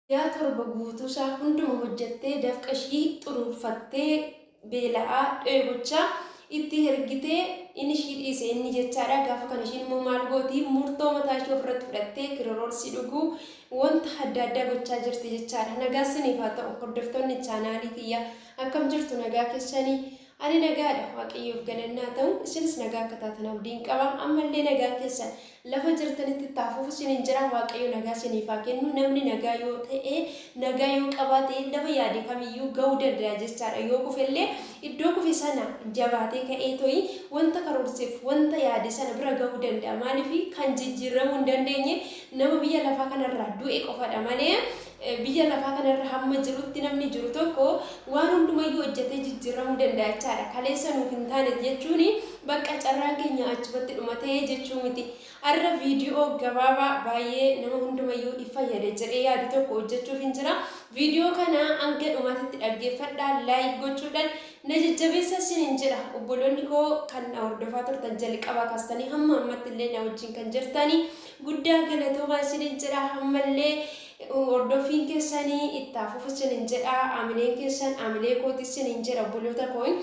Guyyaa torba guutuusaa hunduma hojjattee dafqa ishii xuruurfattee beela'aa dheebochaa itti hergitee inni ishii dhiise inni jechaadha gaafa kana ishiin immoo maal gooti murtoo mataa ishii ofirratti fudhattee kiroroorsii dhuguu wanta adda addaa gochaa jirti jechaadha nagaa siniif haa ta'u hordoftoonni chaanaalii kiyya akkam jirtu nagaa keessanii Ani nagaadha, Waaqayyoof galanni haa ta'u, isinis nagaa akka taatan abdiin qaba. Amma illee nagaan keessan lafa jirtanitti itti haa fufu isiniin jedha. Waaqayyo nagaa isiniif haa kennu. Namni nagaa yoo ta'e, nagaa yoo qabaate lafa yaade kamiyyuu ga'uu danda'a jechaadha. Yoo kufe illee iddoo kufe sana jabaatee ka'ee to'i wanta karoorseef, wanta yaade sana bira ga'uu danda'a. Maaliif kan jijjiiramuu hin dandeenye nama biyya lafaa kanarraa du'e qofadha malee Biyya lafaa kana irra hamma jirutti namni jiru tokko waan hundumayyuu hojjetee jijjiirramuu danda'a jechaadha. Kaleessa nuuf hin taane jechuun bakka carraan keenya achumatti dhumate jechuu miti. Har'a viidiyoo gabaabaa baay'ee nama hundumayyuu if fayyada jedhee yaadu tokko hojjechuufin jira. Viidiyoo kana hanga dhumaatitti dhaggeeffadhaa, laayik gochuudhaan na jajjabeessaa isiniin jedha. Obboloonni koo kan na hordofaa turtan jalqabaa kaastanii hamma ammatti illee na wajjin kan jirtani Guddaa galatoomaa isinin jedha hammallee hordoffiin keessanii itti haa fufu isinin jedha amileen keessan amilee kooti isinin jedha obboloota koon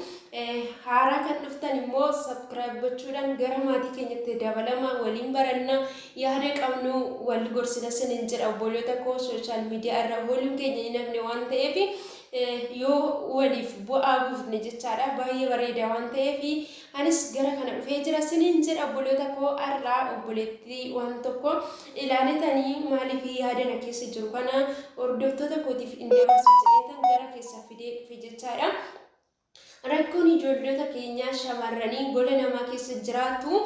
haaraa kan dhuftan immoo sabskiraayib gochuudhaan gara maatii keenyatti dabalama waliin baranna yaada qabnu wal gorsina isinin jedha obboloota koo sooshaal miidiyaa irra ooluun keenya hin hafne waan ta'eef yoo waliif bu'aa buufne jechaadha baay'ee bareeda waan ta'eef Anis gara kana dhufee jira isiniin jedha obboloota koo har'aa obboleettii waan tokko ilaalitanii maaliif yaada na keessa jiru kana hordoftoota kootiif hin dabarsu jedheetan gara keessa fidee dhufe jechaadha. Rakkoon ijoolloota keenyaa shamarranii gola namaa keessa jiraatu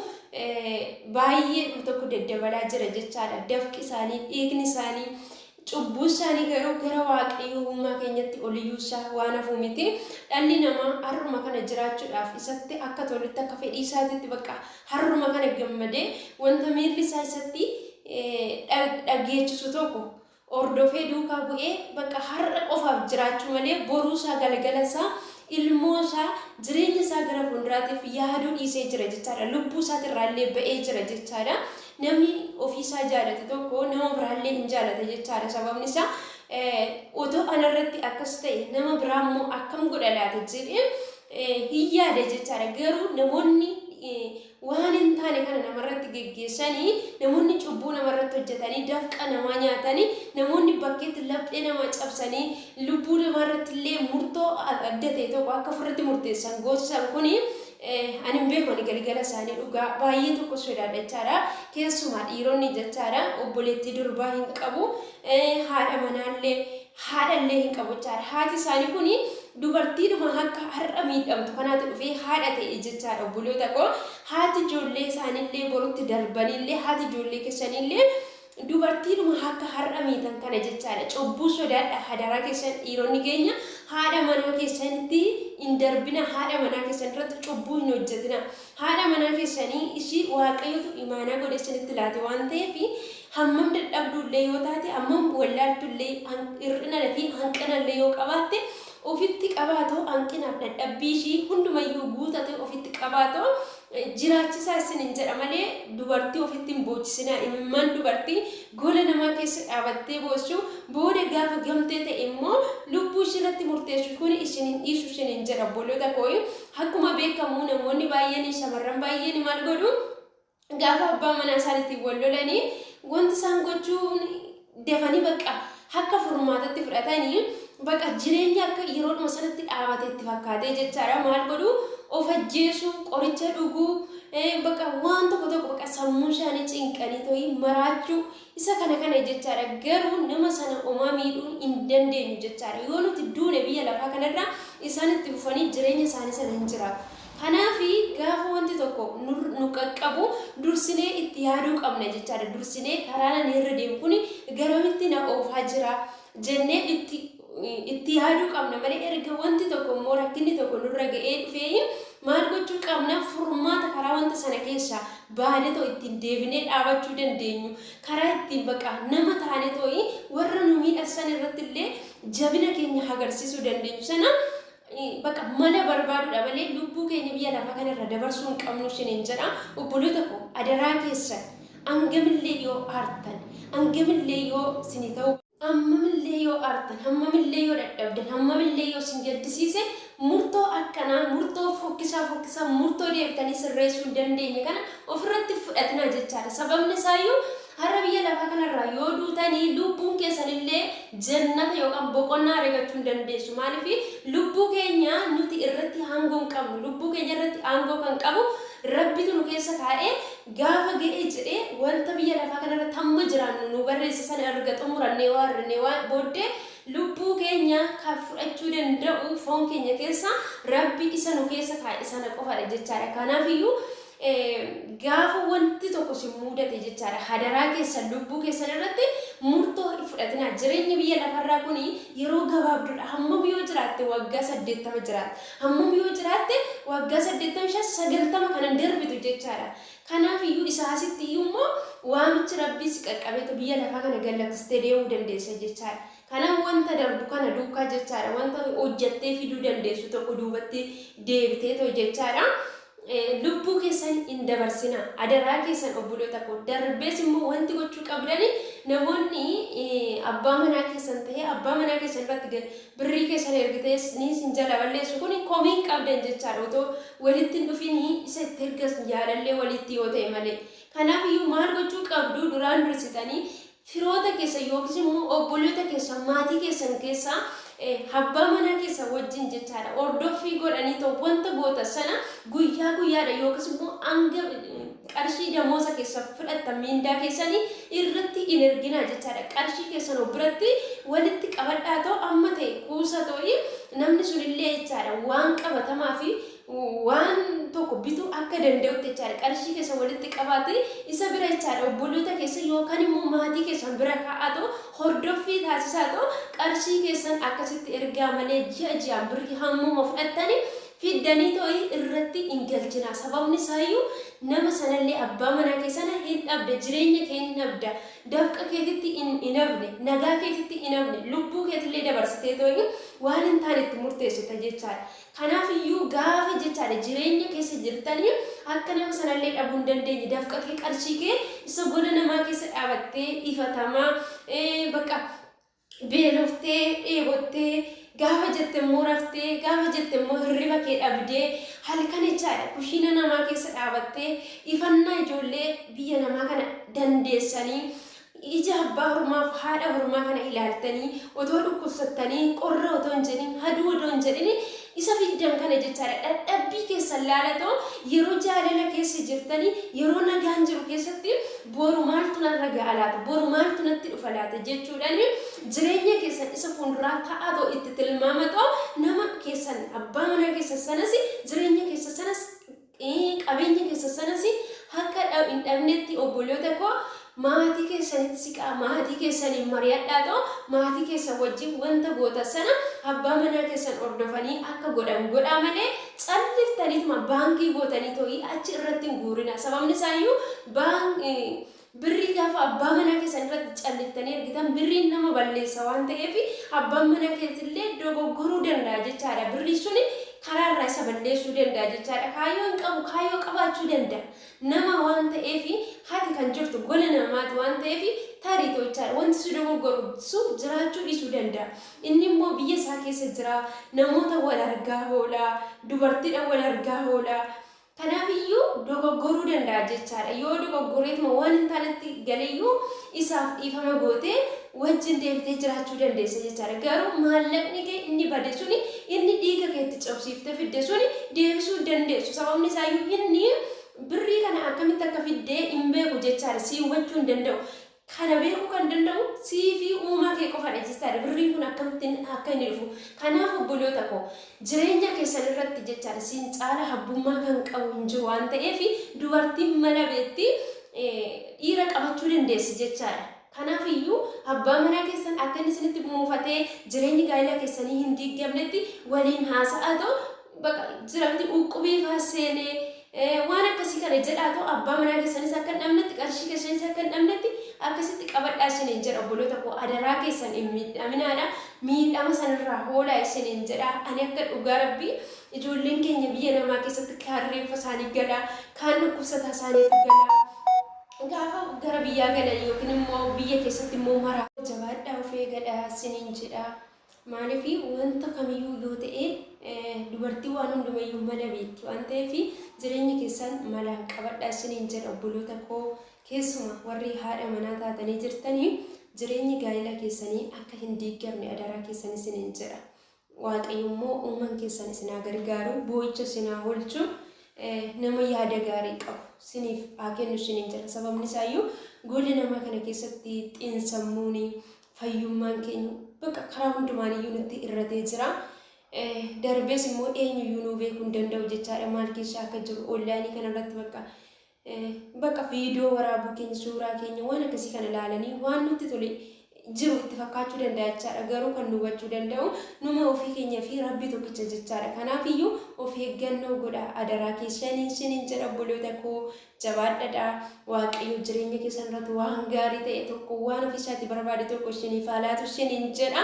baay'ee tokko daddabalaa jira jechaadha. Dafqi isaanii, dhiigni isaanii Cubbuu isaanii garuu gara Waaqayyoo uumaa keenyatti ol iyyuu isaa waan hafuu miti. Dhalli namaa har'uma kana jiraachuudhaaf isatti akka tolutti akka fedhii isaatitti bakka har'uma kana gammadee wanta miirri isaa isatti dhageechisu tokko hordofee duukaa bu'ee bakka har'a qofaaf jiraachuu malee boruu isaa galgala isaa ilmoo isaa jireenya isaa gara fuulduraatiif yaaduu dhiisee jira jechaadha. Lubbuu isaatirraa illee ba'ee jira jechaadha. Namni ofii isaa jaalate tokko nama biraallee hin jaalata jechaadha. Sababni isaa otoo anarratti akkas ta'e nama biraa immoo akkam godha laata jedhee hin yaada jechaadha. Garuu namoonni waan hin taane kana namarratti geggeessanii namoonni cubbuu namarratti hojjetanii dafqa namaa nyaatanii namoonni bakkeetti laphee namaa cabsanii lubbuu namaarratti illee murtoo adda ta'e tokko akka ofirratti murteessan goosisan kuni Eeh ani hin beeku ani galgala isaanii dhugaa baay'ee tokko sodaadha jechaadha keessumaa dhiironni jechaadha obboleettii durbaa hin qabu haadha manaallee haadhallee hin qabu jechaadha haati isaanii kun dubartiidhuma akka har'a miidhamtu kanaati dhufee haadha ta'e jechaadha obboloota koo haati ijoollee isaaniillee borutti darbaniillee haati ijoollee keessaniillee Dubartiidhuma akka har'a miitan kana jechaadha. Cubbuu sodaadhaa hadaraa keessan dhiironni keenya haadha manaa keessanitti hin darbina haadha manaa keessan irratti cubbuu hin hojjetina. Haadha manaa keessanii ishii waaqayyotu imaanaa godhee isinitti laate waan ta'eef hammam dadhabduu illee yoo taate hammam wallaaltu illee hir'inana fi hanqina illee yoo qabaatte ofitti qabaatoo hanqinaaf dadhabbii ishii hundumayyuu guutatee ofitti qabaatoo jiraachisaa isiniin jedha malee dubartii ofitti hin boochisinaa imimmaan dubartii gola namaa keessa dhaabattee boossu booda gaafa gamtee ta'e immoo lubbuu ishii irratti murteessu kun isin hin dhiisu isiniin jedha obboloota koo akkuma beekamu namoonni baay'een shamarran baay'een maal godhu gaafa abbaa manaa isaaniitiin wal lolanii wanti isaan gochuun dafanii bakka akka furmaatatti fudhatanii bakka jireenya akka yeroodhuma sanatti dhaabate itti fakkaatee jechaadha maal godhu of ajjeesuu qoricha dhuguu bakka waan tokko tokko bakka sammuu isaanii cinqanii ta'ii maraachuu isa kana kana jechaadha garuu nama sana omaa miidhuu hin dandeenyu jechaadha yoo nuti duune biyya lafaa kanarra isaan itti fufanii jireenya isaanii sana hin jiraatu. Kanaaf gaafa wanti tokko nu qaqqabu dursinee itti yaaduu qabna jechaadha. Dursinee karaan ani irra deemu kun garamitti na oofaa jira jennee itti itti yaaduu qabna malee erga wanti tokko immoo rakkinni tokko nurra ga'ee dhufee maal gochuu qabna furmaata karaa wanta sana keessaa baanee too ittiin deebinee dhaabachuu dandeenyu karaa ittiin baqa nama taanee too'i warra nu miidhassan irratti illee jabina keenya agarsiisuu dandeenyu sana Baqa mana barbaadudha malee lubbuu keenya biyya lafa kanarra dabarsuu hin qabnu isiniin jedha. Obboloota koo adaraa keessan hangamillee yoo aartan, hangamillee yoo isinii ta'uu hammamillee yoo aartan, hammamillee yoo dadhabdan, hammamillee yoo isin gaddisiise murtoo akkanaa, murtoo fokkisaa fokkisaa, murtoo deebitanii sirreessuu hin dandeenye kana ofirratti hin fudhatinaa jechaadha. Sababni isaayyuu Har'a biyya lafaa kana irraa yoo duutani lubbuun keessan illee jannata yookaan boqonnaa aregachuu hin dandeessu. Maaliif lubbuu keenya nuti irratti aangoo hin qabnu. Lubbuu keenya irratti aangoo kan qabu Rabbitu nu keessa kaa'ee gaafa ga'e jedhee wanta biyya lafaa kana irratti hamma jiraannu nuu barreesse sana erga xumurannee yoo arrinee waan booddee lubbuu keenya kan fudhachuu danda'u foon keenya keessa Rabbi isa nu keessa kaa'e sana qofadha jechaadha. Kanaaf iyyuu Gaafa wanti tokko sin muudate jechaadha hadaraa keessan lubbuu keessan irratti murtoo hin fudhatinaa jireenyi biyya lafarraa kun yeroo gabaabdudha hammam yoo jiraatte waggaa saddeettama jiraatte hammam yoo jiraatte waggaa saddeettama shan sagaltama kanan darbitu jechaadha kanaaf iyyuu isaa asitti iyyuu immoo waamichi rabbii si qaqqabeetu biyya lafaa kana gallakkistee deemuu dandeessa jechaadha kanaaf wanta darbu kana duukaa jechaadha wanta hojjattee fiduu dandeessu tokko duubatti deebitee too jechaadha lubbuu keessan hin dabarsina adaraa keessan obboloota koo darbees immoo wanti gochuu qabdani namoonni abbaa manaa keessan ta'ee abbaa manaa keessan irratti birrii keessan ergitee ni sin jala balleessu kun komii hin qabdan jechaadha otoo walitti hin dhufin isa itti ergas jaalallee walitti yoo ta'e malee kanaaf iyyuu maal gochuu qabdu duraan dursitanii Firoota keessan yookiis immoo obboloota keessan, maatii keessan keessaa abbaa manaa keessan wajjin jechaadha hordoffii godhaniitoo wanta gootan sana guyyaa guyyaadha yookiis immoo hanga qarshii damooza keessan fudhattan miindaa keessanii irratti hin erginaa jechaadha. Qarshii keessan of biratti walitti qabadhaatoo amma ta'e kuusatooyi namni sunillee jechaadha waan qabatamaa fi waan tokko bituu akka danda'utti jechaadha qarshii keessa walitti qabaate isa bira jechaadha obboloota keessa yookaan immoo maatii keessan bira kaa'aatoo hordoffii taasisaatoo qarshii keessan akkasitti ergaa malee ji'a ji'aan birrii hammuma fudhattanii fiddanii too'ii irratti hin galchinaa sababni isaayyuu nama sanallee abbaa manaa kee sana hin dhabda jireenya kee hin dhabda dafqa keetitti hin hin hafne nagaa keetitti hin hafne lubbuu keetillee dabarsitee too'ii waan hin taane itti murteessita jechaadha Kanaaf iyyuu gaafa jechaadha jireenya keessa jirtani akka nama sana illee dhabuu hin dandeenye dafqa kee qarshii kee isa gola namaa keessa dhaabattee ifatamaa bakka beeloftee dheebottee gaafa jette immoo raftee gaafa jette immoo hirriba kee dhabdee halkan jechaadha kushiina namaa keessa dhaabattee ifannaa ijoollee biyya namaa kana dandeessanii Ija abbaa hormaaf haadha hormaa kana ilaaltanii otoo dhukkubsattanii qorra otoo hin jedhin haduu odoo hin jedhin isa fiddan kana jechaadha dhadhabbii keessan laalatoo yeroo jaalala keessa jirtanii yeroo nagaan jiru keessatti boru maaltu narra ga'a laata boru maaltu natti dhufa laata jechuudhaan jireenya keessan isa fuulduraa ta'aatoo itti tilmaamatoo nama keessan abbaa manaa keessan sanas jireenya keessa sanas Qabeenya keessan sanas akka hin dhabnetti obboloota koo maatii keessanitti siqaa, maatii keessaniin mari'adhaatoo maatii keessan wajjin wanta gootan sana abbaa manaa keessan hordofanii akka godhan godhaa malee calliftaniituma baankii gootanii too'ii achi irratti hin guurinaa. Sababni isaa iyyuu Birrii gaafa abbaa manaa keessan irratti calliftanii ergitan birriin nama balleessa waan ta'eef abbaan manaa keessillee dogoggoruu danda'a jechaadha. Birrii suni karaa irraa isa balleessuu danda'a jechaadha. Kaayyoo hin qabu kaayyoo qabaachuu danda'a. Nama waan ta'eef hati kan jirtu gola namaati waan ta'eef tarii ta'u jechaadha. Wanti si dogoggoru su jiraachuu dhiisuu danda'a. Inni immoo biyya isaa keessa jira. Namoota wal argaa hoola. Dubartiidha wal argaa hoola. Kanaaf iyyuu dogoggoruu danda'a jechaa dha. Yoo dogoggoreetuma waan hin taanetti gale iyyuu isaaf dhiifama gootee wajjin deebitee jiraachuu dandeessa jechaa dha. Garuu maallaqni kee inni bade suni, inni dhiiga kee itti cobsiiftee fidde suni deebisuu hin dandeessu. Sababni isaa iyyuu inni birrii kana akkamitti akka fidde hin beeku jechaa dha. Sii hubachuu hin danda'u. Kana beekuu kan danda'u sii fi uumaa kee qofadha jechaadha. Birriin kun akkamitti akka inni dhufu. Kanaaf obboloota koo jireenya keessan irratti jechaadha siin caala habbummaa kan qabu hin jiru waan ta'eef dubartiin mala beekti dhiira qabachuu dandeessi jechaadha. Kanaaf iyyuu abbaa manaa keessan akka inni isinitti muufatee jireenyi gaa'ila keessanii hin diiggamnetti waliin haasa'aatoo baqa jira miti uqqubii faa seene waan akkasii kana jedhaa too abbaa manaa keessanis akka hin dhabnetti qarshii keessanis akka hin dhabnetti akkasitti qabadhaa isiniin jedha obboloota koo adaraa keessan hin miidhaminaadha miidhama sanirraa hoolaa isiniin jedha ani akka dhugaa rabbii ijoolleen keenya biyya namaa keessatti kaan reeffa isaanii galaa kaan dhukkubsataa isaaniitu galaa gaafa gara biyyaa galan yookiin immoo biyya keessatti immoo maraa jabaadhaa of eegadha isiniin jedha Maaliif wanta kamiyyuu yoo ta'e dubartii waan hundumayyuu mala beekti waan ta'eef jireenya keessaan malaan qabadhaa isiniin jedha obboloota koo keessuma warri haadha manaa taatanii jirtanii jireenyi gaa'ila keessanii akka hin diigamne adaraa keessan isiniin jedha. Waaqayyo immoo uuman keessan isin haa gargaaru boo'icha isin haa oolchu nama yaada gaarii qabu isiniif haa kennu isiniin jedha sababni isaayyuu goolli namaa kana keessatti xiinsammuuni fayyummaan keenya bakka karaa hundumaan iyyuu nutti irratee jira. Darbees immoo eenyuyyuu nuu beekuu hin danda'u jechaadha maal keessa akka jiru onlaayinii kanarratti bakka bakka viidiyoo waraabuu keenya suuraa keenya waan akkasii kana ilaalanii waan nutti tole jiru itti fakkaachuu danda'a jechaadha garuu kan nu hubachuu danda'u numa ofii keenya fi rabbii tokkicha jechaadha kanaaf iyyuu of eeggannoo godha adaraa keessaniin sinin jedha obboloota koo Jabaadhadhaa waaqayyoo jireenya keessan irratti waan gaarii ta'e tokko waan ofii isaati barbaade tokko isiniif haa laatu isiniin jedha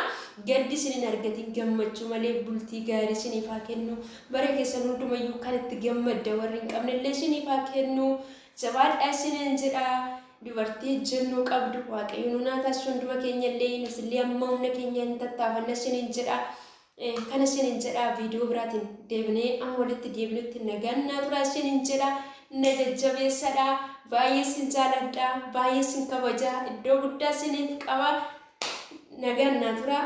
gaddi isin hin argatin gammachuu malee bultii gaarii isiniif haa kennu bara keessan hundumayyuu kan itti gammadda warri hin qabne illee isiniif haa kennu jabaadhaa isiniin jedha dubartii ejjennoo qabdu waaqayyoon hunaa taasisu hunduma keenya illee nuti illee amma humna keenya hin tattaafanna isiniin jedha Kana isiniin jedhaa viidiyoo biraatiin deebinee amma walitti deebinutti nagaan naa turaa isiniin jedha na jajjabeessadha baay'ee isin jaaladha baay'ee isin kabaja iddoo guddaa isiniif qaba nagaan naa turaa.